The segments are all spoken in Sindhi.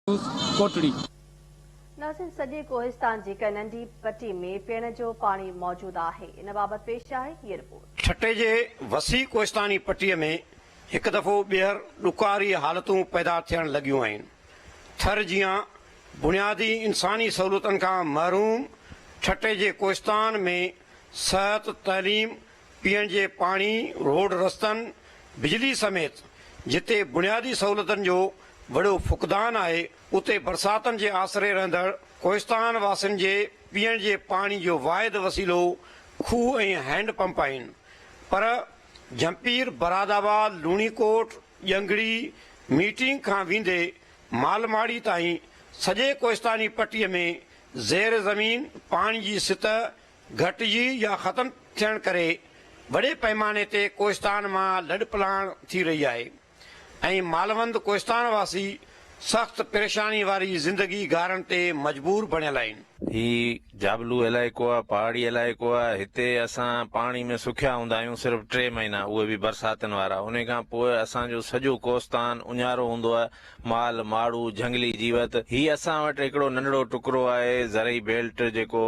نيوز ڪوٽڙي. ناظرين سڄي ڪوهستان جي ڪنهن ننڍي پٽي ۾ پيئڻ جو پاڻي موجود آهي ان بابت پيش آهي هيء رپورٽ. ٺٽي جي وسيع ڪوهستاني پٽي ۾ هڪ دفعو ٻيهر ڏڪاري حالتون پيدا ٿيڻ لڳيون آهن ٿر جيان بنيادي انساني سهولتن کان محروم ٺٽي جي ڪوهستان ۾ صحت تعليم پيئڻ جي پاڻي، روڊ رستن، بجلي سميت جتي بنيادي سهولتن جو وڏو فقدان آهي اتي برساتن جي آسري رهندڙ ڪوهستان واسين جي پيئڻ جي پاڻي جو واحد وسيلو کوهه ۽ هينڊ پمپ آهن پر جهمپير، برادآباد، لوڻي ڪوٽ، ڄنگڙي، ميٽنگ کان ويندي مالماڙي تائين سڄي ڪوهستاني پٽي ۾ زير زمين پاڻي جي سطح گهٽجي يا ختم ٿيڻ ڪري وڏي پئماني تي ڪوهستان مان لڏپلاڻ ٿي رهي آهي ۽ مالوند ڪوهستان واسي سخت پريشاني واري زندگي گهارڻ تي مجبور بڻيل آهن. هي جابلو علائقو آهي، پهاڙي علائقو آهي، هتي اسان پاڻي ۾ سکيا هوندا آهيون، صرف ٽي مهينا اهي به برساتن وارا، انهي کان پوء اسان جو سڄو ڪوهستان اڃارو هوندو آهي، مال، ماڙو، جهنگلي جيوت، هي اسان وٽ هڪڙو ننڍڙو ٽڪرو آهي زرعي بيلٽ جيڪو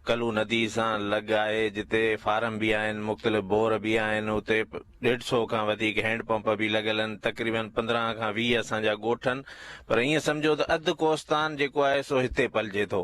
ڪلو ندي سان لڳ آهي جتي فارم به آهن مختلف بور به آهن اتي ڏيڍ سو کان وڌيڪ هينڊ پمپ به لڳل آهن تقريبا پندرهن کان ويهه اسان جا ڳوٺ آهن پر ائين سمجهو ته اڌ ڪوستان جيڪو آهي سو هتي پلجي ٿو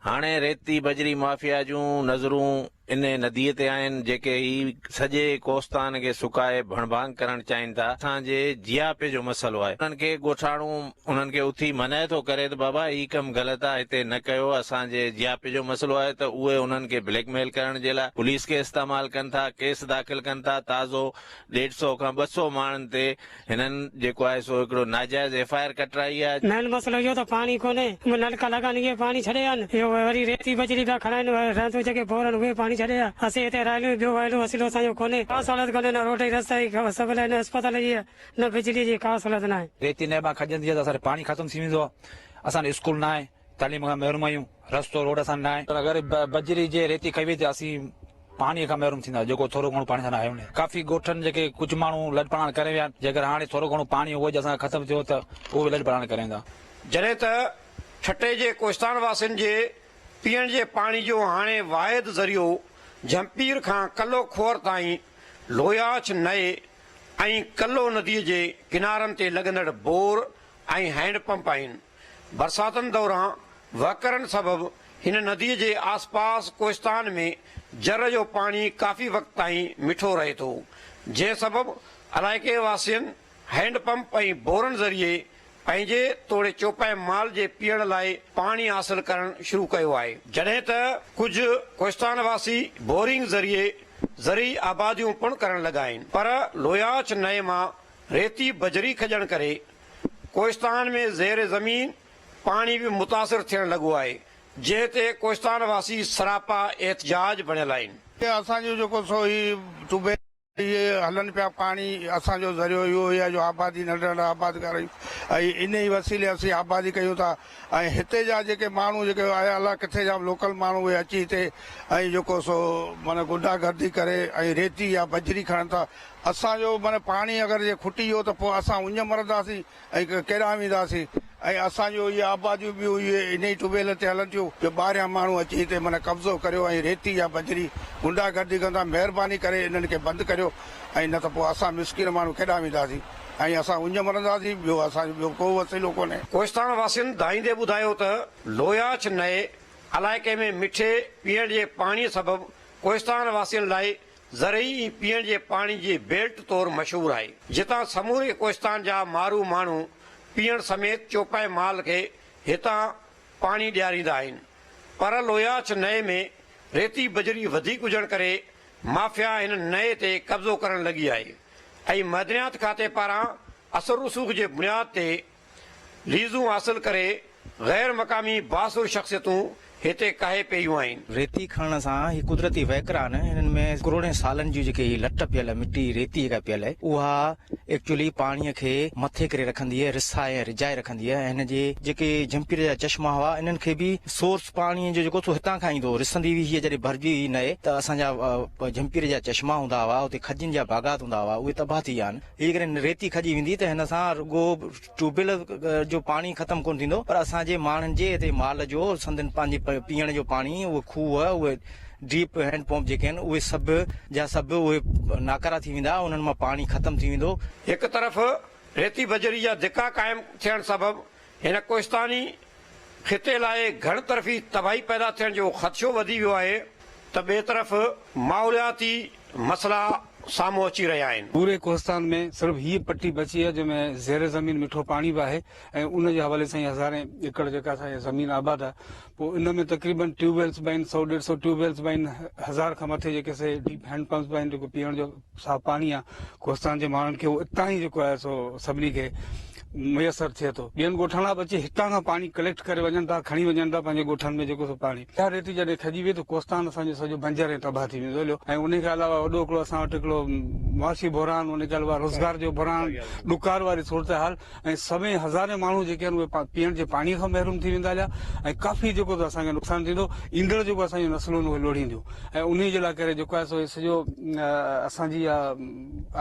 هاڻي ريتي بجري مافيا جون نظرون ان نديء تي آهن، جيڪي هي سڄي ڪوستان کي سڪائي ڀڻ ڀاڱ ڪرڻ چاهين ٿا. اسان جي جياپي جو مسئلو آهي. انهن کي ڳوٺاڻو انهن کي اٿي منع ٿو ڪري ته بابا هي ڪم غلط آهي، هتي نه ڪيو، اسان جي جياپي جو مسئلو آهي ته اهي انهن کي بليڪ ميل ڪرڻ جي لاء پوليس کي استعمال ڪن ٿا، ڪيس داخل ڪن ٿا، تازو ڏيڍ سئو کان ٻه سئو ماڻهن تي هنن جيڪو آهي سو هڪڙو ناجائز ايف آء آر ڪٽرائي آهي. مين مسئلو اهو ته پاڻي ڪونهي اهي نلڪا لڳا آهن اهي پاڻي ڇڏي ويا آهن اهو وري ريتي بجري پيا کڻائين رهندو جيڪي بور آهن اهي پاڻي ڇڏي ويا اسين هتي رهيلون اهي ٻيو وهيلو وسيلو اسان جو ڪونهي ڪا سهولت ڪونهي نه روڊ جي رستا جي ڪا سبل آهي نه اسپتال جي نه بجلي جي ڪا سهولت ناهي. ريتي نيبان کڄندي آهي ته اسان جو پاڻي ختم ٿي ويندو آهي اسان جو اسڪول ناهي تعليم کان محروم آهيون، رستو روڊ اسان نه آهي. اگر بجري جي ريتي کئي وئي ته اسين پاڻي کان محروم ٿيندا جيڪو ٿورو گهڻو پاڻي سان آهيون نه ڪافي گوٺن جيڪي ڪجهه ماڻهو لڏپلاڻ ڪري ويا آهن جيڪر هاڻي ٿورو گهڻو پاڻي اهو جي اسان کي ختم ٿيو ته اهو به لڏپلاڻ ڪري ويندا. جڏهن ته ٺٽي جي ڪوهستان واسين جي پيئڻ جي پاڻي جو هاڻي واحد ذريعو جهمپير کان ڪلو کوهر تائين لوياڇ نئي ۽ ڪلو ندي جي ڪنارن تي لڳندڙ بور ۽ هينڊ پمپ آهن. برساتن دوران وهڪرن سبب هن نديء جي آس پاس ڪوهستان ۾ جر جو پاڻي ڪافي وقت تائين مٺو رهي ٿو، جنهن سبب علائقي واسين هينڊ پمپ ۽ بورن ذريعي پنهنجي توڙي چوپائي مال جي پيئڻ لاء پاڻي حاصل ڪرڻ شروع ڪيو آهي. جڏهن ته ڪجهه ڪوهستان واسي بورنگ ذريعي زرعي آباديون پڻ ڪرڻ لڳا آهن، پر لوياچ نئي مان ريتي بجري کڄڻ ڪري ڪوهستان ۾ زير زمين پاڻي به متاثر ٿيڻ لڳو آهي، جنهن تي ڪوهستان واسي سراپا احتجاج بڻيل آهن. اسان جو جيڪو سو هي ٽيوب ويل اهي هلن پيا، پاڻي اسان جو ذريعو اهو ئي آهي جو آبادي ننڍا ننڍا آباد ڪريون ۽ انهي وسيلي اسين آبادي ڪيون ٿا ۽ هتي جا جيڪي ماڻهو جيڪي آيا الله ڪٿي جا لوڪل ماڻهو اهي اچي هتي ۽ جيڪو سو معنيٰ غنڊا گردي ڪري ۽ ريتي يا بجري کڻن ٿا اسان جو معنيٰ پاڻي اگر جي کٽي ويو ته پوء اسان اڃ مرنداسين ۽ ڪيڏانهن وينداسين ۽ اسان جون اهي آباديون به اهي انهي ٽيوبويلن تي هلن ٿيون جو ٻاهريان ماڻهو اچي هتي معنيٰ قبضو ڪريو ۽ ريتي يا بجري غنڊا گردي ڪن ٿا مهرباني ڪري انهن کي بند ڪريو ۽ نه ته پوء اسان مسڪين ماڻهو ڪيڏانهن وينداسين ۽ اسان اڃ مرنداسين ٻيو اسان جو ٻيو ڪو وسيلو ڪونهي. ڪوهستان واسين ڌائيندي ٻڌايو ته لوياڇ نئي علائقي ۾ مٺي پيئڻ جي پاڻي سبب ڪوهستان واسين لاء ذرعي ۽ پيئڻ جي پاڻي جي بيلٽ طور مشهور آهي، جتان سموري ڪوهستان جا مارو ماڻهو پيئڻ سميت چوپائي مال کي هتان پاڻي ڏياريندا آهن. پر لوياڇ نئي ۾ ريتي بجري وڌيڪ هجڻ ڪري مافيا هن نئي تي قبضو ڪرڻ لڳي آهي ۽ معدنيات کاتي پاران اثر رسوخ جي بنياد تي ليزون حاصل ڪري غير مقامي بااثر شخصيتون هتي ڪاهي پيون آهن. ريتي کڻڻ سان هي قدرتي وهڪرا آهن هنن ۾ ڪروڙين سالن جون جيڪي هي لٽ پيل آهي مٽي ريتي جيڪا پيل آهي اها ايڪچولي پاڻي کي مٿي ڪري رکندي آهي رسائي ۽ رجائي رکندي آهي ۽ هن جي جيڪي جهمپير جا چشما هئا انهن کي به سورس پاڻي جو جيڪو سو هتان کان ايندو هو رسندي هئي هيء جڏهن ڀرجي هئي نئي ته اسان جا جهمپير جا چشما هوندا هئا اتي کجين جا باغات هوندا هئا اهي تباهه ٿي ويا آهن. جيڪڏهن ريتي کڄي ويندي ته هن سان رڳو ٽيوبويل جو پاڻي ختم ڪونه ٿيندو پر اسان جي ماڻهن جي اتي مال جو سندن پنهنجي پيئڻ جو پاڻي اهي کوهه اهي ڊيپ هينڊ پمپ جيڪي آهن اهي سڀ جا سڀ اهي ناڪارا ٿي ويندا انهن مان پاڻي ختم ٿي ويندو. هڪ طرف ريتي بجري جا ڌڪا قائم ٿيڻ سبب هن ڪوهستاني خطي لاء گهڻ طرفي تباهي پيدا ٿيڻ جو خدشو وڌي ويو آهي ته ٻئي طرف ماحولياتي مسئلا سامهون اچي رهيا آهن. پوري ڪوهستان ۾ صرف هيء پٽي بچي آهي جنهن ۾ زير زمين مٺو پاڻي به آهي ۽ ان جي حوالي سان ئي هزارين ايڪڙ جيڪا اسان جي زمين آباد آهي پوء ان ۾ تقريبن ٽيوب ويلز به آهن سؤ ڏيڍ سؤ ٽيوب ويلز به آهن هزار کان مٿي جيڪي سي ڊيپ هينڊ پمپس به آهن جيڪو پيئڻ جو صاف پاڻي آ ڪوھستان جي ماڻھن کي اتان ئي جيڪو آھي سو سڀني کي ميسر ٿئي ٿو ٻين ڳوٺن وارا به اچي ھتان کان پاڻي ڪليڪٽ ڪري وڃن ٿا کڻي وڃن ٿا پنھنجي ڳوٺن ۾ جيڪو سو پاڻي اھا ريٽ جڏھن کڄي ويئي ته ڪوھستان اسان جو سڄو بنجر ۽ تباھ ٿي ويندو ھليو ۽ ان کان علاوه وڏو ھڪڙو اسان وٽ ھڪڙو معاشي بحران ان کان علاوه روزگار جو بحران ڏڪار واري صورتحال ۽ سوين هزارين ماڻهو جيڪي آهن اهي پيئڻ جي پاڻي کان محروم ٿي ويندا هليا ۽ ڪافي جيڪو اسان کي نقصان ٿيندو ايندڙ جيڪو اسان جون نسلون اهي لوڙهينديون ۽ انهي جي لاء ڪري جيڪو آهي سو سڄو اسان جي اها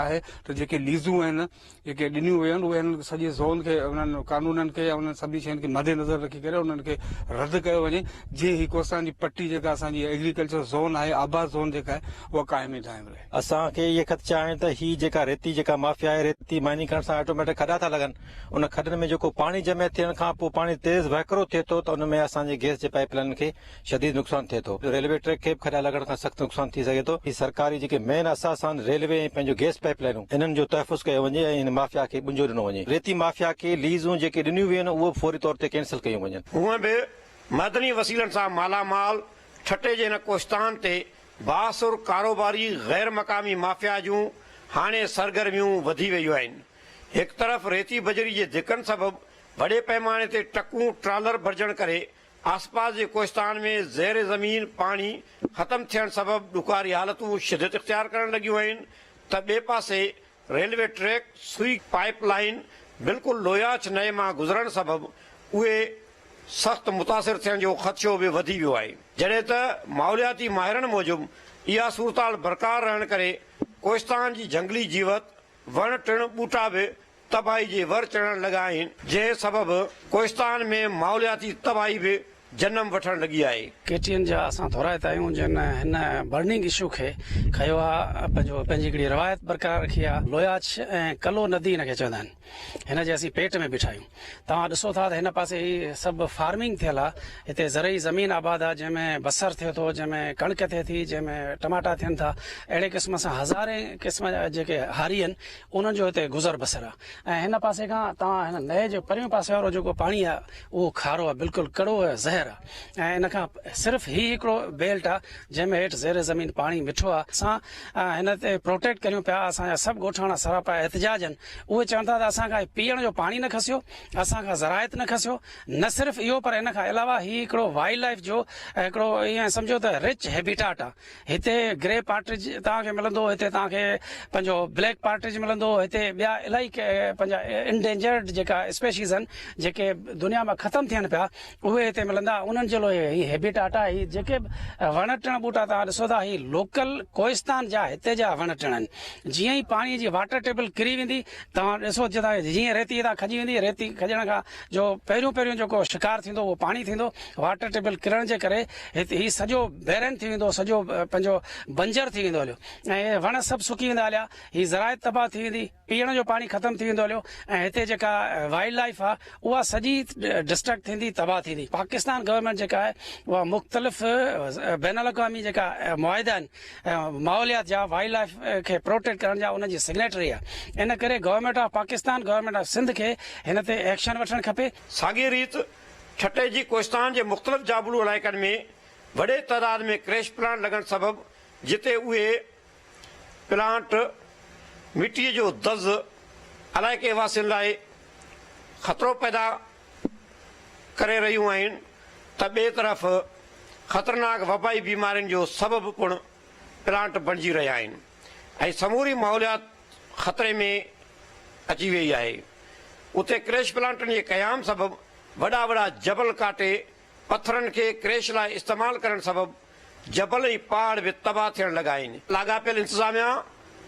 آهي ته جيڪي ليزون آهن جيڪي ڏنيون ويون آهن اهي هن سڄي زون کي انهن قانونن کي يا انهن سڀني شين کي مد نظر رکي ڪري انهن کي رد ڪيو وڃي جي هي ڪوستان جي پٽي جيڪا اسان جي ايگريڪلچر زون آهي آباد زون جيڪا آهي اها قائم ۽ دائم رهي اسان کي اهي خدشا آهن ته هي جيڪا ريتي جيڪا مافيا آهي ريتي مائننگ ڪرڻ سان آٽوميٽڪ کڏا ٿا لڳن ان کڏن ۾ جيڪو پاڻي جمع ٿيڻ کان پوء پاڻي تيز وهڪرو ٿئي ٿو ته ان ۾ اسان جي گيس جي پائيپ لائنن کي شديد نقصان ٿئي ٿو ريلوي ٽريڪ کي به کڏا لڳڻ کان سخت نقصان ٿي سگهي ٿو هي سرڪاري جيڪي مين اثاثا آهن ريلوي ۽ پنهنجو گيس پائيپ لائنون انهن جو تحفظ ڪيو وڃي ۽ هن مافيا کي ٻنجو ڏنو وڃي ريتي مافيا کي ليزون جيڪي ڏنيون ويون اهي به فوري طور تي ڪينسل ڪيون وڃن. هونئن به معدني وسيلن سان مالا مال ٺٽي جي هن ڪوهستان تي بااثر ڪاروباري غير مقامي مافيا جون هاڻي سرگرميون وڌي ويون آهن، هڪ طرف ريتي بجري جي ڌڪن سبب وڏي پئماني تي ٽڪون ٽرالر ڀرجڻ ڪري آسپاس جي ڪوهستان ۾ زير زمين پاڻي ختم ٿيڻ سبب ڏکاري حالتون شدت اختيار ڪرڻ لڳيون آهن ته ٻئي پاسي railway track Sui pipeline بلڪل لوياچ نئي مان گذرڻ سبب اهي سخت متاثر ٿيڻ جو خدشو به وڌي ويو آهي جڏهن ته ماحولياتي ماهرن موجب اها صورتحال برقرار رهڻ ڪري ڪوهستان جي جهنگلي جيوت وڻ ٽڻ ٻوٽا به تباهي جي ور چڙهڻ لڳا آهن جنهن سبب ڪوهستان ۾ ماحولياتي تباهي به جنم وٺڻ لڳي آهي. ڪي ٽي اين جا اسان ٿورائتا آهيون جن هن برننگ اشو کي کنيو آ پنهنجو پنهنجي هڪڙي روايت برقرار رکي آ لوياڇ ۽ ڪلو ندي هن کي چوندا آهن هن جي اسين پيٽ ۾ بيٺا آهيون توهان ڏسو ٿا ته هن پاسي هي سڀ فارمنگ ٿيل آ هتي زرعي زمين آباد آ جنهن ۾ بصر ٿئي ٿو جنهن ۾ ڪڻڪ ٿئي ٿي جنهن ۾ ٽماٽا ٿين ٿا اهڙي قسم سان هزارين قسم جا جيڪي هاري آهن انهن جو هتي گذر بسر آهي ۽ هن پاسي کان توهان هن نئي جي پريون پاسي وارو جيڪو پاڻي آهي اهو کارو آهي بلڪل ڪڙو آهي زهر آهي ۽ ان کان صرف هي هڪڙو بيلٽ آهي جنهن ۾ هيٺ زير زمين پاڻي مٺو آهي اسان هن تي پروٽيڪٽ ڪريون پيا اسان جا سڀ ڳوٺاڻا سراپا احتجاج آهن اهي چون ٿا ته اسان کان هي پيئڻ جو پاڻي نه کسيو اسان کان زراعت نه کسيو نه صرف اهو پر ان کان علاوه هي هڪڙو وائلڊ لائيف جو هڪڙو ائين سمجهو ته رچ هيبيٽاٽ آهي هتي گري پارٽرج توهان کي ملندو، هتي توهان کي پنهنجو بليڪ پارٽرج ملندو، هتي ٻيا الائي پنهنجا انڊينجرڊ جيڪا اسپيشيز آهن جيڪي دنيا مان ختم ٿين پيا اهي هتي ملندا انهن جي لاء هي هيبيٽاٽ آهي هي جيڪي وڻ ٽڻ ٻوٽا توهان ڏسو ٿا هي لوڪل ڪوهستان جا هتي جا وڻ ٽڻ آهن جيئن ئي پاڻي جي واٽر ٽيبل ڪري ويندي توهان ڏسو جتان جيئن ريتي هتان کڄي ويندي ريتي کڄڻ کان جو پهريون پهريون جيڪو شڪار ٿيندو اهو پاڻي ٿيندو واٽر ٽيبل ڪرڻ جي ڪري هت هي سڄو بيرن ٿي ويندو سڄو پنهنجو بنجر ٿي ويندو هليو ۽ وڻ سڀ سڪي ويندا هليا هي زراعت تباهه ٿي ويندي پيئڻ جو پاڻي ختم ٿي ويندو هليو ۽ هتي جيڪا وائلڊ لائف آهي اها سڄي ڊسٽرڪٽ ٿيندي تباهه ٿيندي پاڪستان گورنمنٽ جيڪا آهي اها مختلف بين الاقوامي جيڪا معاهدا آهن ماحوليات جا وائلڊ لائيف کي پروٽيڪٽ ڪرڻ جا ان جي سگنيٽري آ ان ڪري government of Pakistan government of Sindh کي هن تي ايڪشن وٺڻ کپي. ساڳي ريت ٺٽي جي ڪوهستان جي مختلف جابلو علائقن ۾ وڏي تعداد ۾ ڪريش پلانٽ لڳڻ سبب جتي اهي پلانٽ مٽي جو دز علائقي واسين لاء خطرو پيدا ڪري رهيون آهن ته ٻئي طرف خطرناڪ وبائي بيمارين جو سبب پڻ پلانٽ بڻجي رهيا آهن ۽ سموري ماحوليات خطري ۾ اچي ويئي آهي. اتي ڪريش پلانٽن جي قيام سبب وڏا وڏا جبل ڪاٽي پٿرن کي ڪريش لاء استعمال ڪرڻ سبب جبل ۽ پهاڙ به تباهه ٿيڻ لڳا آهن، لاڳاپيل انتظاميا،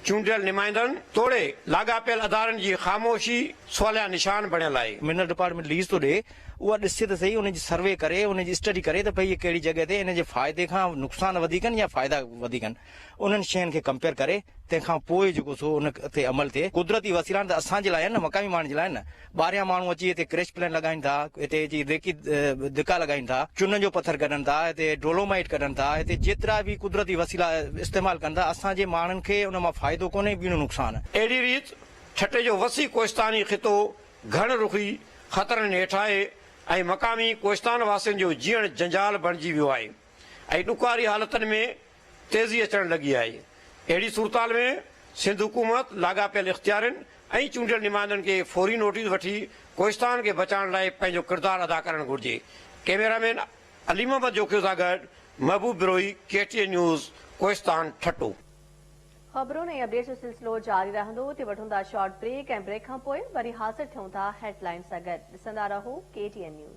چونڊيل نمائندن توڙي لاڳاپيل ادارن جي خاموشي سواليا نشان بڻيل آهي. منرل ڊپارٽمينٽ ليز ٿو ڏئي اها ڏسجي ته سهي ان جي سروي ڪري ان جي اسٽڊي ڪري ته پئي هي ڪهڙي جڳهه تي ان جي فائدي کان نقصان وڌيڪ آهن يا فائدا وڌيڪ آهن. انهن شين کي ڪمپيئر ڪري تنهن کان پوء جيڪو سو ان تي عمل ٿئي قدرتي وسيلا آهن ته اسان جي لاء آهن نه مقامي ماڻهن جي لاء نه ٻاهريان ماڻهو اچي هتي ڪريش پلانٽ لڳائين ٿا هتي اچي ريڪي دڪا لڳائين ٿا چنن جو پٿر ڪڍن ٿا هتي ڊولومائيٽ ڪڍن ٿا هتي جيترا به قدرتي وسيلا استعمال ڪن ٿا اسان جي ماڻهن کي ان مان فائدو ڪونهي ٻيڻو نقصان. اهڙي ريت ٺٽي جو وسيع ڪوهستاني خطو گهڻ رخي خطرن هيٺ آهي ۽ مقامي ڪوهستان واسين جو جيئڻ جنجال بڻجي ويو آهي ۽ ڏکواري حالتن ۾ تيزي اچڻ لڳي آهي، اهڙي صورتحال ۾ سنڌ حڪومت لاڳاپيل اختيارين ۽ چونڊيل نمائندن کي فوري نوٽيس وٺي ڪوهستان کي بچائڻ لاء پنهنجو ڪردار ادا ڪرڻ گهرجي، ڪئميرا مين علي محمد جوکيو سان گڏ محبوب Brohi K T N news Kohistan Thatta. خبرون ۽ اپڊيٽس جو سلسلو جاري رهندو اتي وٺون ٿا شارٽ بريڪ ۽ بريڪ کان پوء وري حاضر ٿيون ٿا هيڊ لائنز سان گڏ ڏسندا رهو ڪي ٽي اين نيوز.